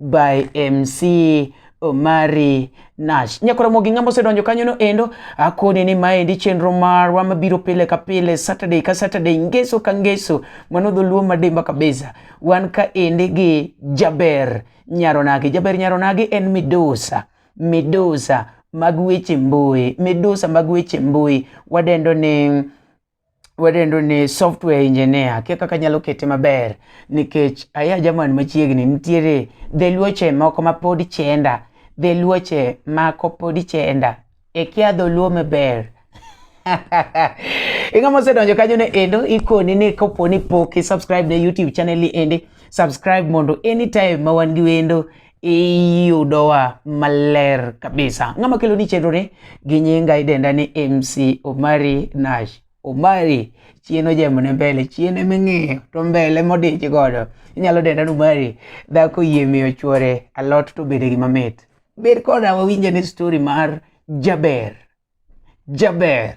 by MC Omari Nash. Nyakoromo gi ng'ama osedonjo kanyono endo, akone ni maendi chenro marwa mabiro pile ka pile, Saturday ka Saturday, ngeso ka ngeso, mano dholuo madimba kabisa. Wan ka endi gi Jaber Nyaronagi. Jaber Nyaronagi en midusa, midusa mag weche mbui, midusa mag weche mbui wadendo ni wadendo ni software engineer kia kaka nyalo kete maber nikech aya jaman machiegni nitiere dheluoche moko ma pod chenda dheluoche mako pod chenda e kia dholuo maber inga mosedonjo kanyo ne endo ikoni ni koponi pok i subscribe ne youtube channel ni endi subscribe mondo anytime ma wan gi wendo iyudowa maler kabisa. Ng'ama kelo ni chenro ni gi nyinga idenda ni MC Omari Nash. Omari chien ojemo ne mbele chien eming'iyo to mbele modich godo inyalo denda ni Omari dhako yie miyo chuore alot to bede gima mit. Ber koda wawinje ni story mar jaber jaber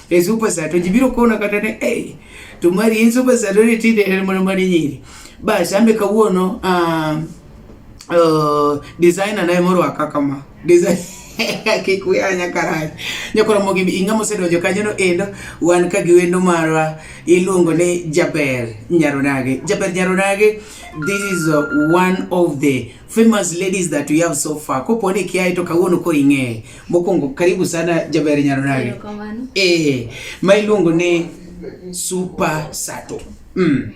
e super sato jibiro kona kata ne hey, to mari in super sato ne tinde en mana mari nyiri basi ambe kawuono uh, uh, designer naye moro akakama design kik we anya karach nyakoro mogi inga mosedonjo kanyo no endo wan ka gi wendo marwa iluongo ni jaber nyaronage jaber nyaronage this is uh, one of the famous ladies that we have so far ko pone kia ito kawuono ko ing'eye mokwongo karibu sana jaber nyarunage eh ma iluongo ni super sato mm.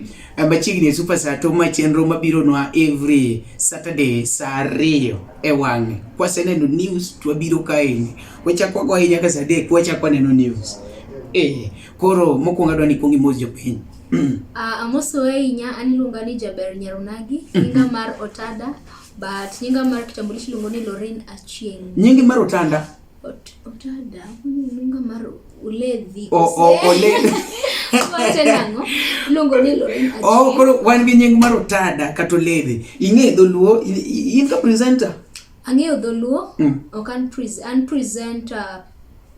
machiegni super sato ma chenro mabiro nwa every saturday saa ariyo e wang'e kwaseneno news to wabiro kaeni wachako wago ahinya ka saa adek wachako waneno news eh koro mokwongo adwa ni kwong imos jopiny Uh, amoso ahinya an iluonga ni Jaber Nyarunagi, nyinga mar Otada, but nyinga mar kitambulisho iluongo ni Lorin Achieng. Nyingi mar Otanda. Ot, otada, nyinga mar Uledhi. O, o, Oledhi. Wache nang'o? Iluongo ni Lorin Achieng. Oh, koro wan gi nying mar Otada kata Oledhi. Ing'e dholuo, in ka presenter. Ang'eyo dholuo, mm. ok an, pre an presenter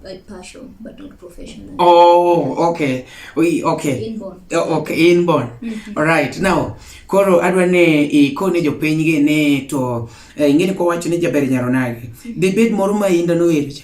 by passion but not professional. Oh, okay. We, okay. Inborn. Oh, okay, inborn. Mm -hmm. All right. Now, koro adwa ne ikone jopiny gi ni to eh, ing'e ni kwawacho ni jaber nyaro nage. Mm -hmm. Dibed moro ma inda nower cha.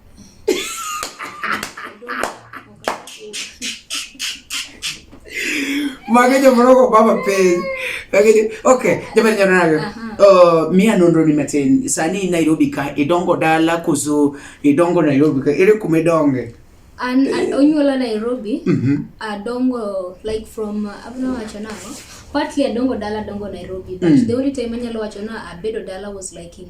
Mage joma roko baba piny. Okay, jama jana nayo. Uh, mia nonro ni matin. Sani Nairobi ka idongo dala kuzo idongo Nairobi ka ere kuma idonge? An onyuola Nairobi. Mm -hmm. Adongo like from uh, abna wacho nango. Partly adongo dala adongo Nairobi but mm. the only time anyalo wacho na abedo dala was like in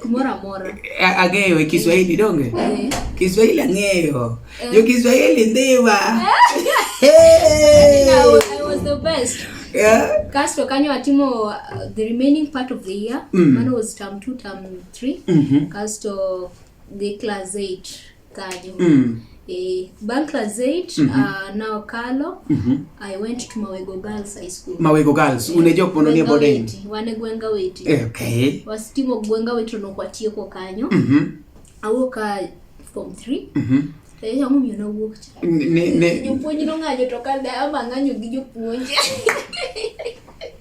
kumoro amora. Ang'eyo e Kiswahili donge? Eh. Kiswahili ang'eyo. Eh. Jo Kiswahili ndiwa. Eh. I was the best. Yeah. Kasto kanyo atimo uh, the remaining part of the year. Mm. Mano was term 2, term 3. Mm -hmm. Kasto the class 8. Kanyo. Mm. Eh, bang' class 8 mm -hmm. uh, na okalo mm -hmm. I went to Mawego Girls High School. Mawego Girls eh, unejo pono ni boarding. Wane gwenga weti. Eh, okay. Wasitimo gwenga wetu no kwa tieko kanyo. Mm -hmm. Awoka form 3. Mm -hmm. Eh, yangu mimi na wuok cha. Ne ne. Jopuonj no ng'anyo to kada ama ng'anyo gi jopuonj.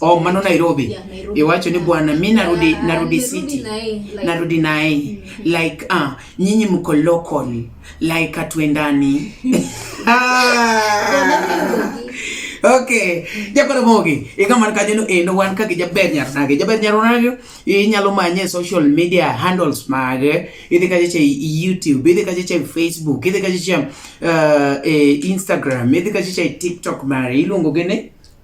Oh, mano Nairobi. Yeah, Nairobi. Iwacho ni bwana mi narudi yeah, narudi city. Narudi naye. Like, mm-hmm. like ah, uh, nyinyi mko local. Like atuendani. ah. Okay. Jakono mogi. Ika man kanyo endo wan kaka jaber nyar nage. Jaber nyar nage. Inyalo manye social media handles mage. Idhi kaje che YouTube, idhi kaje che Facebook, idhi kaje che uh, eh, Instagram, idhi kaje che TikTok mare. Iluongo gene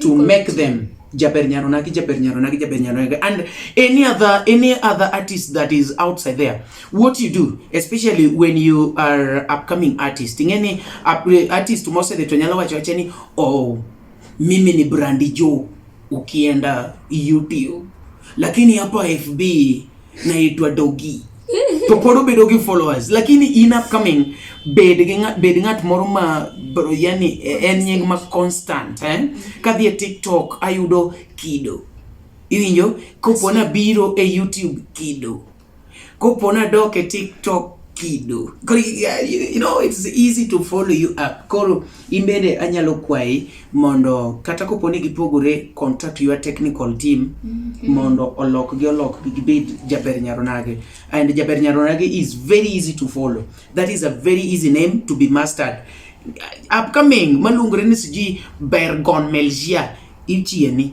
to make them Jaber Nyaronagi, Jaber Nyaronagi, Jaber Nyaronagi, and any other any other artist that is outside there. What you do, especially when you are upcoming artist, in any artist mose the tonyala wacho acheni oh mimi ni Brandy Joe ukienda YouTube, lakini hapa FB naitwa Dogi. To pod obedo gi followers lakini in upcoming bed gi ng'at bed ng'at moro ma yani e, en nying ma constant eh? Kadhi e TikTok ayudo kido. Iwinjo? Kopo na biro e YouTube kido. Kopo na dok e TikTok kido. You know it's easy to follow you up. Koro In bende anyalo kwayi mondo kata kopo ni gipogore contact your technical team mm -hmm. mondo olok gi olok gi gibed Jaber Nyaronage and Jaber Nyaronage is very easy to follow that is a very easy name to be mastered upcoming maluongore ni siji Bergon Melgia ichieni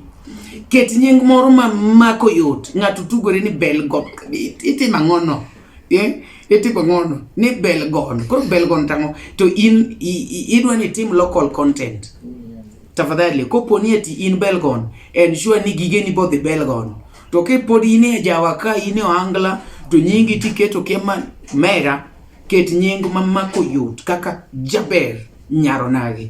ket nying moro ma mako yot ng'ato tugore ni Belgon itimo ang'ono eh, itimo ng'ono ni belgon koro belgon tang'o to in idwa ni tim local content tafadhali kopo ni eti in belgon ensure ni gige ni bodhi belgon to kipo ni ine jawa ka ine oangla to nyingi tiketo kema mera ket nying mamako yot kaka jaber nyaronagi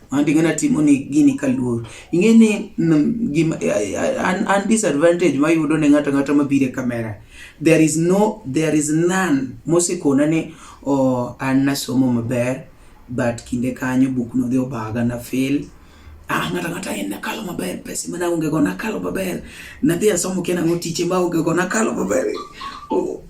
and ing'e natimo ni gini kaluor ing'e ni mm, gima, an, an disadvantage mayudo ne ng'ato ng'ato mabiro e kamera there is no there is none mosekona ni oh, an nasomo maber but kinde kanyo buk nodhi obaga na fail ah ng'ato ng'ata en nakalo maber pesa mana onge go nakalo maber nadhi asomo kia nang'o tiche ma onge go nakalo maber oh.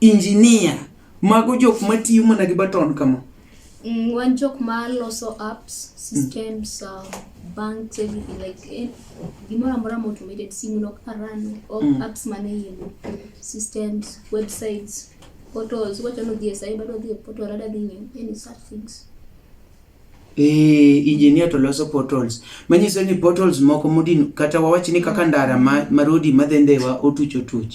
Engineer. Mago jok matiyo mana gi baton kama. Mm, wan jok ma loso apps, systems, mm. uh, banks, everything like eh, gimoro amora ma automated simu nok arano, all mm. apps mane iye systems, websites, portals, wachano dhie sai bado dhie portal ada dhing'e, any such things. Eh, engineer to loso portals manyiso ni portals moko modin kata wawach ni kaka ndara ma, ma rodi madhi ndhewa otuch otuch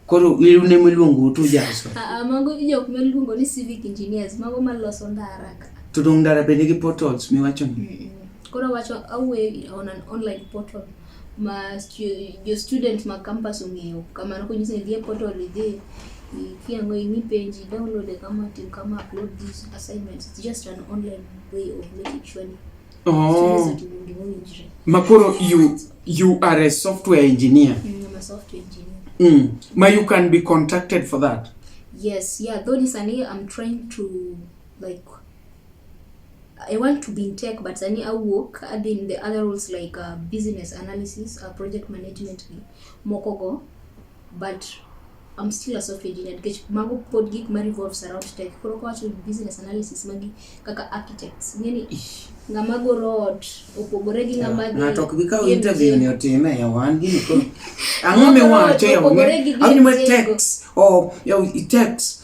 koro ilune miluongo utu jaso Ah, ah, mago jok miluongo ni civic engineers mago maloso ndara ka to dong ndara bende gi portals miwacho ni Mm, mm. koro wacho awuoyo on an online portal ma jo student ma campus ong'eyo kamano konyisi ni idhi e portal idhi ikiango ing'i page i download e kama tim kama upload these assignments it's just an online way of making sure ni oh. students otim gima owinjore makoro you you are a software engineer Mm, I'm a software engineer mm. ma you can be contacted for that yes yeah though ni sani i'm trying to like I want to be in tech but sani awuok adhi in the other roles like uh, business analysis, uh, project management gi moko go but I'm still a software engineer nikech mago pod gik ma revolves around tech. Koro ka wacho business analysis magi kaka architects. Ngeni ng'ama goro ot opogore gi ng'ama gi ng'ato ok bi kawo interview ni otime ya wan gini ko ang'o miwacho ya wan? Ang'o miwacho text? Oh, yo text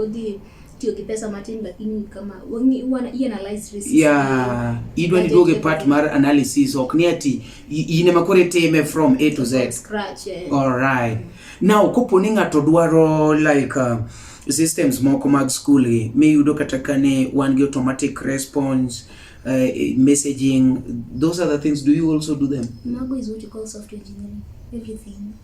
Odhi tiyo gi pesa matin lakini kama wangi wana i analyze risk yeah idwa ni doge part mar analysis ok ni ati ine makore time from a to z scratch yeah. all right mm. now kopo ni ngato dwaro like uh, systems moko mag school gi miyudo kata kane wan gi automatic response uh, messaging those are the things do you also do them mago is what you call software engineering everything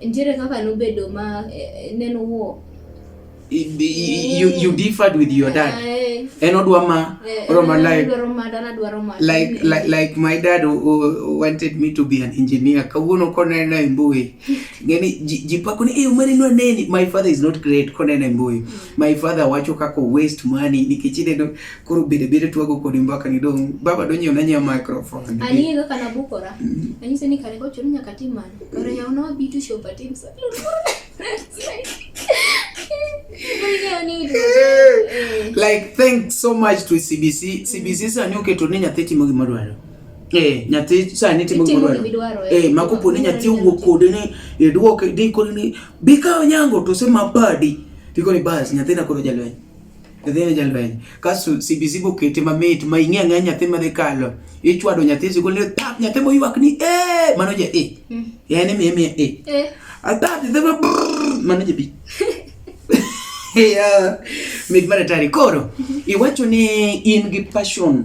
Nitiere kaka nobedo ma eh, neno wo. You, you differed with your dad. Eh, en odwa ma eh, eh, odwa like like like like my dad wanted me to be an engineer kawuono koneno e mbui ngeni jipako ni eyo mane nwa neni my father is not great koneno e mbui mm. my father wacho kako waste money nikech ineno koro bede bede twago kodi mbaka ni dong baba do nyiew na nyiew microphone ani ndo kana bukora mm. ani seni kare ko churu nyaka timana kare ya unawa bitu show pa team sasa like thank so much to cbc cbc sa ni oketo ni nyathi timo gima dwaro eh nyathi sa ni timo gima dwaro eh, eh makopo ni nyathi wuok kode ni idwoke e dikoni ni bika onyango to se mabadi dikoni bas nyathi na koro jalweny nyathi en jalweny kaso CBC bokete mamit ma ing'e ang'e nyathi madhi kalo ichwado nyathi sikul ni tap nyathi moywak ni eh mano je eh hmm. yani mi mi eh eh atap nyathi ma mano je bi yeah mit mara tari koro iwacho ni in gi passion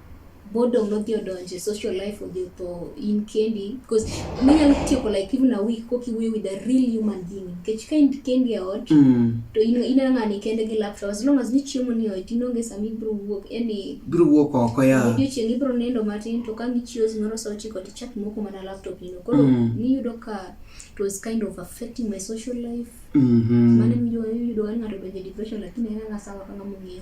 boredom nodhi odonje social life odhi otho in kendi because minyalo tieko like even a week koki wuoyo with a real human being nikech ka in kendi e ot mm. to in in ng'ani kende gi laptop as long as ni chiemo ni ot in onge sama ibro wuok yani bro wuok oko ya video chieng ibro nindo matin to ka ngichio zimoro sa ochiko to chat moko mana laptop ino koro mm. ni yudo ka it was kind of affecting my social life mm -hmm. mane miyudo miyudo ng'ato donje depression lakini en ng'asa wakanga mong'eyo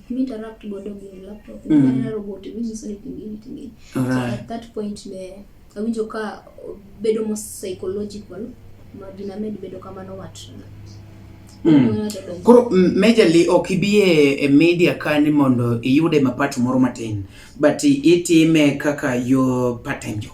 mi interact godo gi laptop mm. aneno robot mi nyiso ni tim gini tim gini so at that point be awinjo ka bedo mo psychological ma gina med bedo kamano watrna Mm. Koro majorly ok ibi e media kani mondo iyude mapato moro matin but itime kaka yo part time job.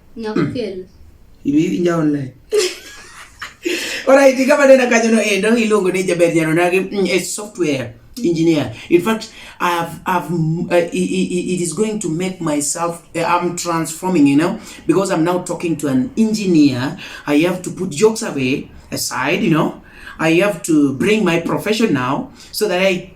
Nyako kel. Ibi inja online. Alright, kama nena kanyo no endo iluongo ni jaber jano nagi mm, a software engineer. In fact, I have, I've, mm, uh, it, it is going to make myself, uh, I'm transforming, you know, because I'm now talking to an engineer. I have to put jokes away aside, you know. I have to bring my profession now so that I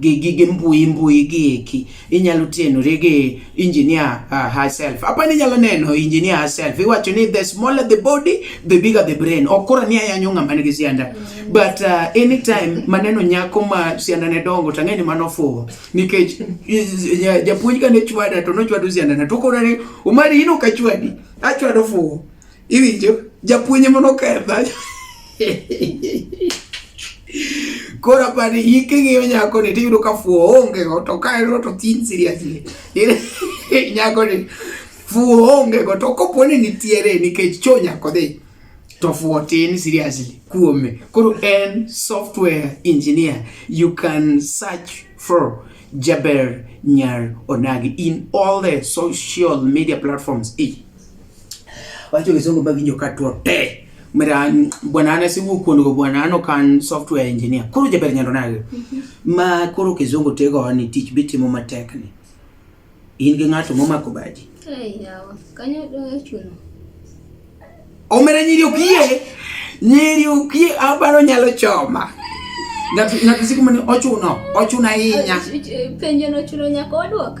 gi gige mbui mbui gi eki inyalo tienore gi engineer uh, herself apa ni nyalo neno engineer herself iwacho ni the smaller the body the bigger the brain okora ni ayanyo ngama nigi sianda but uh, anytime maneno nyako ma sianda ne dongo to ang'eni mano fuwo nikech japuonj ka ne chwada to nochwado sianda na to okora ni umari ino kachwadi achwado fuwo Iwinjo? Japuonj ema noketha. Koro apani in king'iyo nyakoni tiyudo ka fuwo ongego to ka en to thin seriously. Nyakoni fuwo ongego to kopo ni nitiere nikech cho nyako dhi to fuwo tin seriously kuome. Koro en software engineer you can search for Jaber Nyar Onagi in all the social media platforms. E. wacho kisungu ba winjo ka tuo te mera bwana ana si wukwon go bwana ano kan software engineer koro jaber nyando nage ma koro kizungu tego ni tich bitimo matek ni in gi ng'ato momako baji Ai, yawa. Kanyo dong' chuno. omera nyiri okie nyiri okie abaro nyalo choma ng'ato ng'ato siku mane ochuno ochuno ahinya Penjo no chuno nyaka wadwok.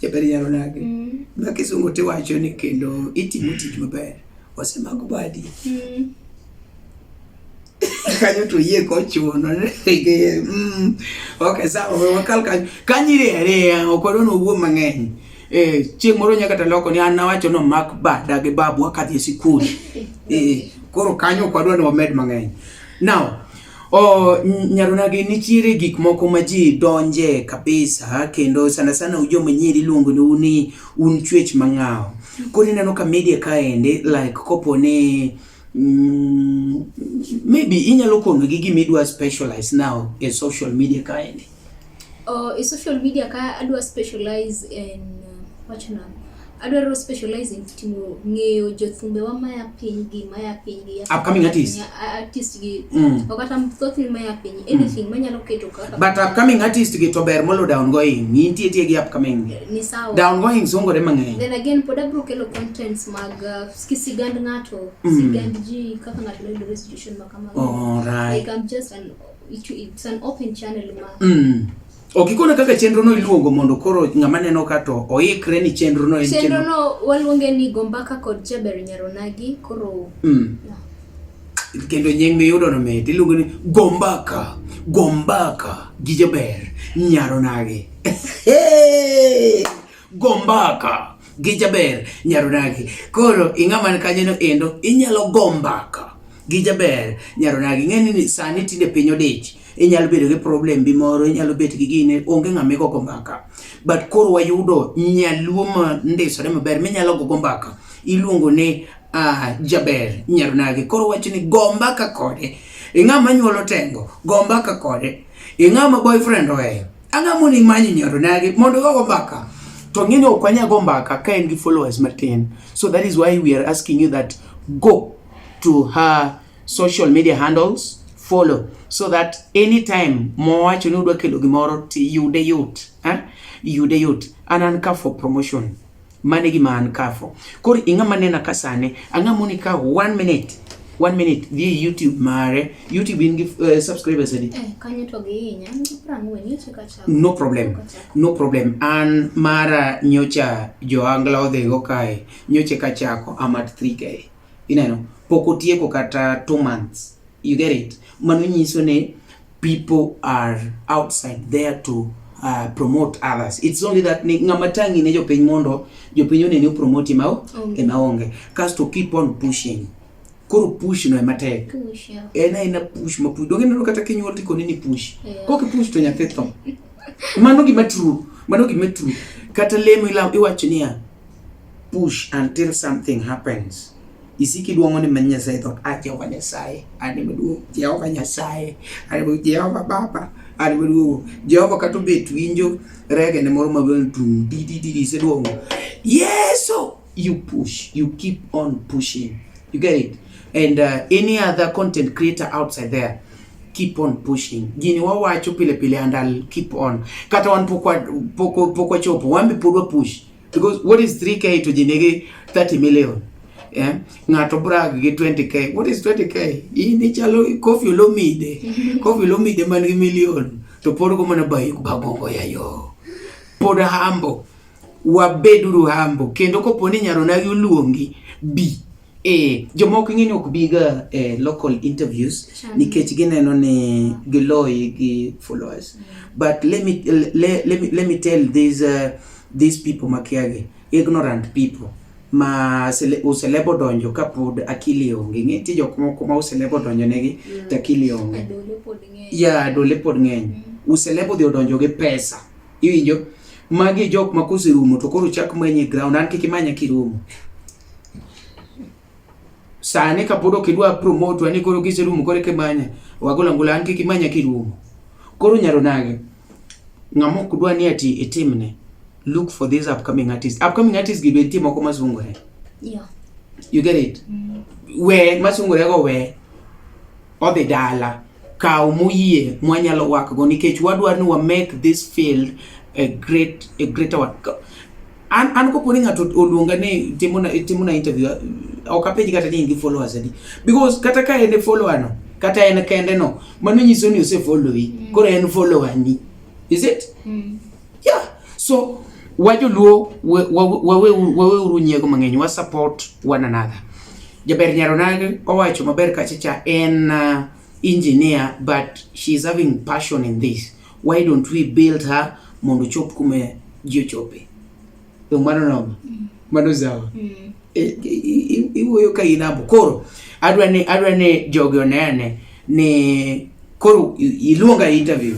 Jaber yaro nage. Mm. Ma kisungo tiwacho ni kendo itimo tich maber. Wasemako badi. Mm. kanyo to yie kochuno mm. ok sawa we wakal kanyo kanyiri ariya ok wadwa nowuo mang'eny eh, chieng' moro nyaka taloko ni an nawacho no mak bada gi babu akadhi e sikul eh, koro kanyo ok wadwa ni wamed mang'eny now Oh, nyaronagi nitiere gik moko ma ji donje kabisa kendo sana sana ujo manyiri luongo ni uni un chwech mang'awo. Koro ineno ka media kaende like kopo ni mm, maybe inyalo kono gi gima idwa specialize now e social media kaende. Oh, e social media ka adwa specialize in uh, wacho nang'o? Adwaro specialize in timo ng'eyo jothumbe wa maya piny gi maya piny gi Upcoming artist. a- artist gi Mm. ok kata thothne maya piny anything manyalo keto kaka But upcoming artist gi to ber molo downgoing. Nitie tie gi upcoming. ni sawa Downgoing songore mang'eny. then again pod abro kelo contents mag uh, ki sigand ng'ato Mm. sigand ji kaka ng'ato noyudore e situation ma kamago Alright. like I'm just an Mm. Ok ikona kaka chenro no iluongo mondo koro ng'ama neno ka to oikre ni chenro no en chenro. Chenro no waluonge ni Gombaka kod Jaber Nyaronagi koro. Mm. No. Kendo nying miyudo no mit iluongo ni Gombaka, Gombaka gi Jaber Nyaronagi. Gombaka gi Jaber Nyaronagi. Koro ing'ama kanyo no endo inyalo gombaka. gi jaber nyaronagi ing'eni ni sani tinde piny odich inyalo bedo gi problem bi moro inyalo bet gi gine onge ng'ama igogo mbaka but koro wayudo nyaluo ma ndisore maber minyalo gogo mbaka iluongo ni uh, jaber nyaronagi koro wacho ni go mbaka kode ing'ama nyuolo tengo go mbaka kode ing'ama boyfriend oweyo ang'amo ni manyo nyaronagi mondo gogo mbaka to ng'eni ok wanyago mbaka ka en gi followers matin so that is why we are asking you that go to her social media handles follow so that anytime mowacho ni udwa kelo gimoro to yude yot eh? yude yot an an ka for promotion mane gima an ka for koro ing'ama nena ka sane ang'a moni ka one minute one minute dhi e youtube mare youtube in gi uh, subscribers adi eh, kanyo to gihinya prang'wen nyocha kacha no problem no problem an mara nyocha joangla odhigo kae nyocha kachako am at 3k ineno pok otieko kata two months you get it mano nyiso ni people are outside there to uh, promote others it's only that ni ng'ama tangi ne jopiny mondo jopiny oneni opromote ema o- Onge. ema onge kasto keep on pushing koro push no ema tek Push, yeah. en aena push ma push donge neno kata kinyuol tikoni ni push Yeah. kok push to nyathi tho mano gima true mano gima true kata lemo ila- iwacho niya push until something happens isiki duong'o ni manyia sai thot a ah, Jehova Nyasaye ani maduong' Jehova Nyasaye ani maduong' Jehova Baba ani maduong' Jehova kata obet winjo rege ne moro maduong' tum di di di se duong'o Yesu you push you keep on pushing you get it and uh, any other content creator outside there keep on pushing gini wawacho pile pile and I'll keep on kata wan pok pok pok wachopo wan be pod wapush Because what is 3k to jinigi 30 million? Yeah. Ng'ato brag gi 20k. What is 20k? Hii ni chalo Koffi Olomide. Koffi Olomide man gi million. To pod ko mana bayi bagongo ya yo. Pod hambo. Wabeduru hambo. Kendo koponi nyarona gi uluongi bi. Eh, jomoko ing'eni ok biga e eh, local interviews nikech gineno ni giloyi gi followers mm. but let me, let, let me, let me tell these, uh, these people makiagi ignorant people ma uselebo donjo ka pod akili onge ng'e ti jok moko ma uselebo donjo negi mm. to akili onge ya adole pod ng'eny mm. uselebo dhi odonjo gi pesa iwinjo magi jok ma koserumo to koro chak manye ground an kik imanya kirumo Sani kapod ok idwa promote wani koro kiserumo koro kimanya wagola ngula an kik imanya kirumo. Koro nyaro nage ng'ama ok dwa ni ati itimne look for these upcoming artists. Upcoming artists gi be nitie moko masungore. Yeah. You get it? Mm. We masungore go we odhi dala. kawo moyie mwanyalo wakgo nikech wadwar ni wa make this field a great a greater one an an ko poni ng'ato oluonga ni timo na timo na interview ok apenji kata ni in gi followers adi because kata ka en e follower no kata en kende no mano nyiso ni ose follow yi mm. koro en follower ni is it mm. Yeah. So wajoluo waweuru nyiego mang'eny wa support one another. Jaber Nyaronag owacho maber kachacha en uh, engineer but she is having passion in this. Why don't we build her mondo chop kume ji ochope. Yo mano no. Mm. Mano zawa. Mm. E, e, iwuoyo ka inabo koro adwa ni adwa ni jogi onene ni koro iluonga interview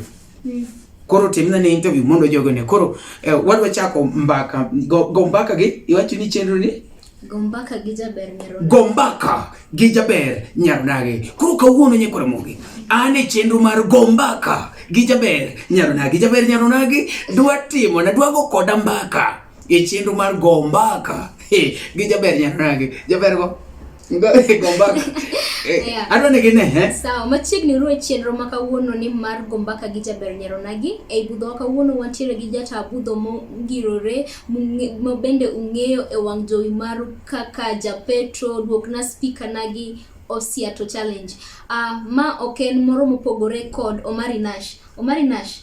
Koro timna ne interview mondo jogo ne. Koro eh, wadwa chako mbaka go, go mbaka gi iwacho ni chenro ni Gombaka gi jaber nyaro. Gombaka gi jaber nyaro nage. Koro kawuono nye kora mogi. An e chenro mar Gombaka gi jaber nyaro nage. Jaber nyaro nage dwa timo na dwa go koda mbaka e chenro mar Gombaka. Hey, gi jaber nyaro nage. Jaber go. Sawa, machiegni ruo e chenro ma kawuono ni mar gombaka gi jaber nyaronagi. Ei budhowa kawuono wantiere gi jata budho mongirore ma bende ung'eyo e wang' jowi maru kaka Japetro, duokna spika nagi Osiato Challenge. Uh, ma ok en moro mopogore kod Omari Nash. Omari Nash,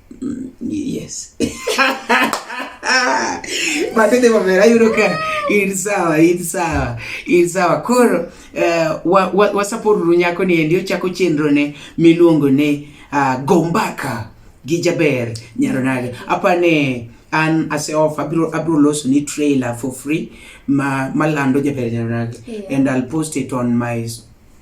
Mm, yes. Matete mabera yudo ka in sawa, in sawa, in sawa. Koro uh, wa, wa, wasaporuru nyako ni endi ochako chenro ne miluongo ni uh, ah, Gombaka gi Jaber Nyaronage. Apa ne an aseof abiro abiro loso ni trailer for free ma malando Jaber Nyaronage yeah. and I'll post it on my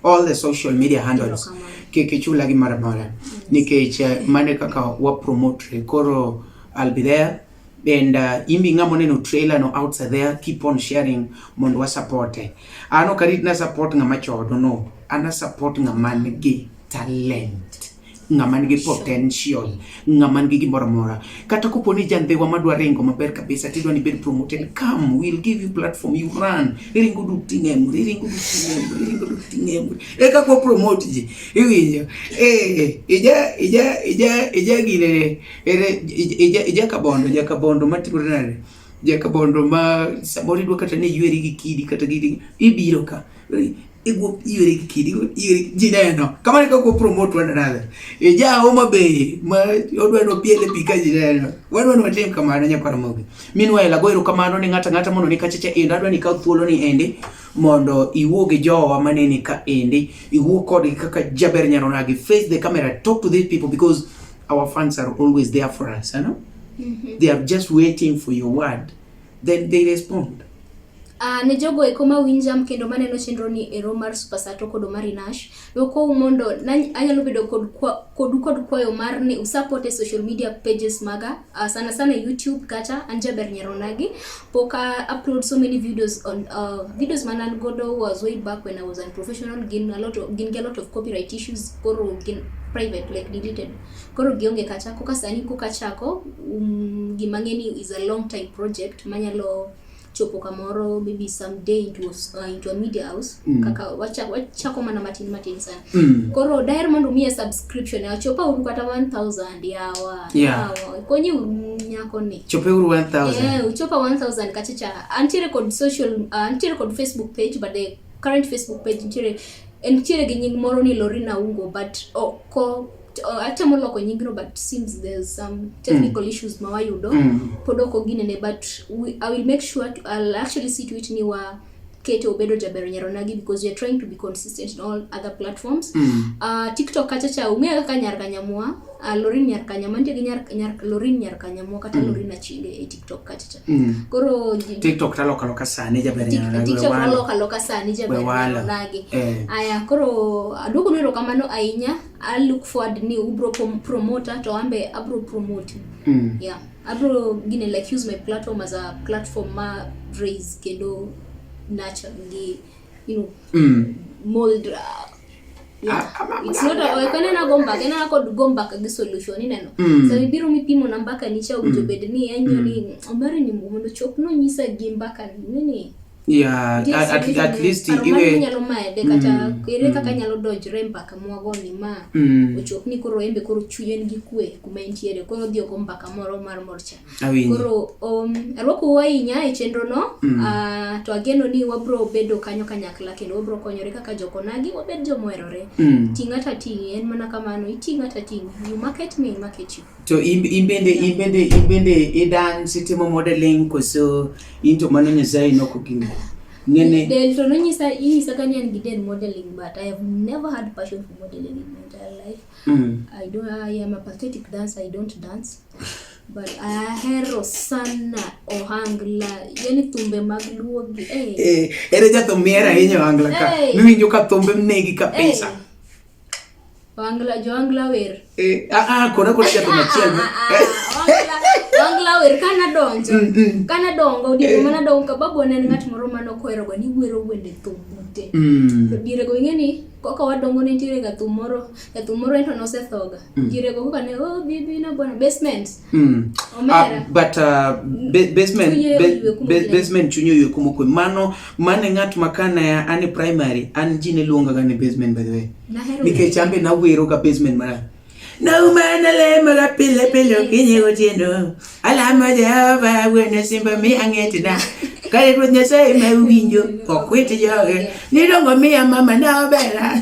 all the social media handles kik ichula gi mara mara nikech eh, mane kaka wa promote koro I'll be there and uh, imbi ng'amo neno trailer no outside there keep on sharing mondo wa support eh. ano karit na support ng'ama chodo no ana support ng'ama nigi talent ng'ama nigi potential ng'ama nigi gimoro amora kata kopo ni jandhiwa madwa ringo maber kabisa tidwa ni bed promoted come we'll give you platform you run iringo du ting'emri iringo du ting'emri iringo du ting'emri eka kwa promote ji iwinjo eh ija ija ija ija gire ere ija ija kabondo ija kabondo matimore nade ija kabondo ma samoro idwa kata ni yweri gi kidi kata gidi ibiro ka Iguo iwere gi kidi, iwere ji neno. Kamano kaka ko promote one another. E ja Homa Bay ma odwa no piele pi ka ji neno. Wadwa ni watim kamano nyakwar mogi. Meanwhile ago erokamano ne ng'ata ng'ata mondo ni kachacha endo adwa ni kaw thuolo ni endi mondo iwuo gi jowa maneni ka endi iwuo kodgi kaka jaber nyaronagi face the camera talk to these people because our fans are always there for us you know? mm -hmm. they are just waiting for your word then they respond Uh, ne jogo eko ma winjam kendo maneno chenro ni ero mar Super Sato kod Omari Nash dokou mondo anyalo bedo kod kodu kod kwayo mar ni usupport e social media pages maga uh, sana sana YouTube kata Anjaber Nyaronagi pok uh, upload so many videos on uh, videos man an godo was way back when I was unprofessional gin a lot of, gin a lot of copyright issues koro gin private like deleted koro gionge kacha koka sani koka chako um, gima ng'eni is a long time project manyalo chopo kamoro maybe some day into, uh, into a media house mm. kaka wachako wacha mana matin matin sana mm. koro daher mondo umiye subscription achopa uru kata 1000 yawa yeah. yawa konyi nyako ni chope uru 1000 yeah, uchopa 1000 kachacha antiere kod social uh, antiere kod facebook page but the current facebook page ntiere ntiere gi nying moro ni Lorina Ungo but oko oh, Oh, ate moloko nyingno but seems there's some technical mm. issues mawayudo mm. pod ok oginene but we, i will make sure to, i'll actually see to it ni wa kete obedo jaber nyaronagi because we are trying to be consistent in all other platforms mm. uh, tiktok kacha cha ung'eyo kaka nyar kanyamwa uh, ah, lorin nyar kanyamwa nitie gi nyar, nyar, lorin nyar kanyamwa kata mm. lorin achinde e tiktok kacha cha mm. koro tiktok talokaloka sani jaber tiktok talokaloka sani jaber nyaronagi eh. aya koro aduogo nero kamano ahinya I look forward ni ubro promoter to ambe abro promote. Mm. Yeah. Abro gine like use my platform as a platform ma raise kendo nurture gi you know mm. mold uh, yeah. Ah, ah, ah, it's not a kene na gomba kene na kod gomba ka gi solution ni neno mm. so ibiro mi pimo na mbaka ni cha mm. ujo bed ni enyo ni mm. omere ni mundo chop no nyisa gi mbaka ni nini Yeah, Ndiye at, at, sisi at ni- least paro mane iwe inyalo made kata Mm, ere kaka mm. nyalo donjre e mbaka mwagoni ma mm, ochop ni koro embe koro chuny en gi kwe kuma entiere koro odhi oko mbaka moro mar morcha awinji. koro um, arwakou ahinya e chenrono Mm. ah, to ageno ni wabro bedo kanyo kanyakla kendo wabro konyore kaka jokonagi wabed jomoherore Mm. ting' ata ting' en mana kamano iting' ata ting' you market me I market you To in, in bende in bende in bende i dance itimo modeling koso in to mano Nyasaye noko gini. Nene Del to nonyisa inyisa ka ni an gi del modeling but I have never had passion for modeling in my entire life. mm. I don't I am a pathetic dancer, I don't dance. But ahero sana ohangla, yani thumbe mag luo gi eh. Eh, ere jathum mier ahinya ohangla ka. Eh. Miwinjo ka thumbe mnegi kabisa. Eh. Wangla Jongla wer. Eh, ah ah kona kona jato machiel. Ah, ah, ah, Wangla wer kana donjo. Mm, mm. Kana dongo odi eh. mana dongo ka babu ne ngat moro mane okwero go ni gwero wende thum mute. Mm. To dire go ingeni kaka wadongo ne tire ga thum moro, ga thum moro ento nosethoga. Dire go kaka ne oh bibi na bwana basement. Mm. Uh, but uh, basement basement chunyo yo kumo kwe mano mane ngat makana ya ani primary an jine luonga gani basement by the way nike chambe na wero ka basement mara na umana le mara pile pile kinye gotiendo ala ma jehova wene simba mi angeti na kare kwa nyasa ime uginjo kwa kwete yoge nidongo mi ya mama na obera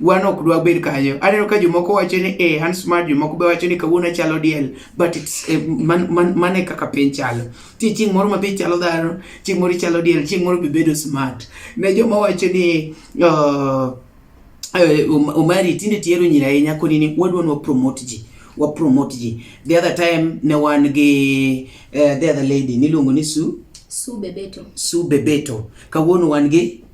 wan ok dwa bed kanyo. Aneno ka jomoko wacho ni eh, an smart, jomoko be wacho ni kawuono achalo diel, but it's eh, man, man, man e kaka piny chalo. Ti chieng' moro ma be chalo dhano, chieng' moro ichalo diel, chieng' moro be bedo smart. Ne joma wacho ni uh, uh, Omari tinde tiero nyiri ahinya koni ni wadwa nwa promote ji wa promote ji. The other time ne wan gi uh, the other lady niluongo ni Su Su Bebeto. Su Bebeto. Kawuono wan gi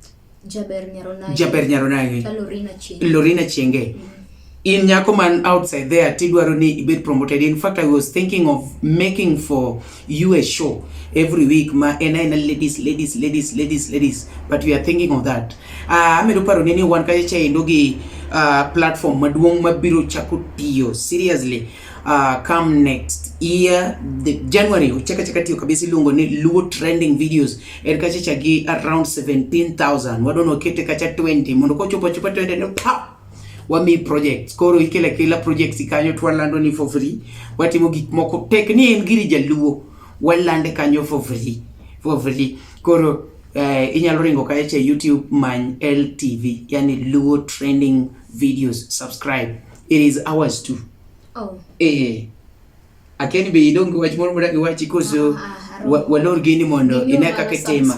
Jaber Nyaronagi. Jaber Nyaronagi. Lorina Chenge. Lorina Chenge. Mm -hmm. In nyako man outside there tidwaro ni ibed promoted. In fact, I was thinking of making for you a show every week ma en aena ladies ladies ladies ladies ladies but we are thinking of that. Uh, amedo paro ni wan kacha endo gi uh, platform maduong' mabiro chako tiyo seriously Uh, come next year the January uchaka chaka tiyo kabisa iluongo ni Luo trending videos er kacha chagi around 17000 wadono kete kacha 20 mondo kochopo chopo 20 no pa wami projects koro ikela kila projects ikanyo twalando ni for free watimo gik moko tek ni en giri jaluo walande kanyo for free for free koro eh, inyalo ringo kae che YouTube many LTV yani Luo trending videos subscribe It is ours too. Oh. Eh. Akeni be idonge wach moro mora gi wachi koso ah, ah, ah, walor gini mondo ine kaka itima.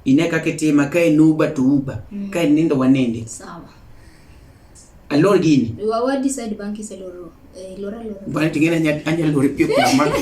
Ine kaka itima ka en uba to uba, mm. ka en nindo wanende. Sawa. Alor gini. Wa decide bank is aloro. Eh, lora lora. Bana tingena nya anya lori pio kwa mama.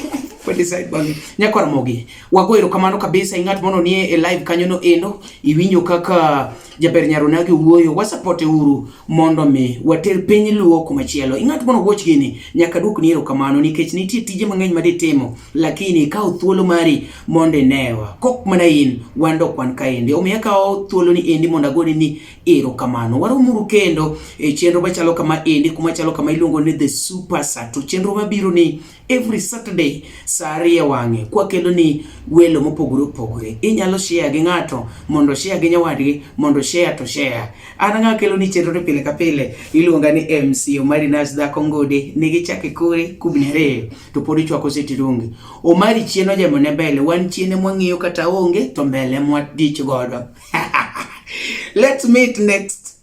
Kwa decide bank. Nya kwa mogi. Wago erokamano kabisa ing'at mono nie e live kanyo no endo iwinjo kaka Jaber Nyarunagi wuoyo, wasapote uru mondo mi water piny Luo kuma chielo. Ing'at mono watch gini nyaka duok ni erokamano nikech nitie tije mang'eny ma ditimo lakini kaw thuolo mari mondo inewa. Kok mana in wan dok wan kaendi. Omiyo akawo thuolo ni endi mondo agone ni erokamano. Waromuru kendo e chenro machalo kama endi kuma chalo kama iluongo ni The Super Sato. Chenro mabiro ni every Saturday saa ariyo wang'e kwakelo ni welo mopogore opogore. Inyalo share gi ng'ato mondo share gi nyawadgi mondo share to share. An ng'a kelo ni chenro ni pile ka pile iluonga ni MC Omari Nas Dhako Ngode nigi chake kore kubni ariyo to pod ichwako seti rungi. Omari chien ojemo ne mbele wan chien mwang'iyo kata onge to mbele mwatich godo. Let's meet next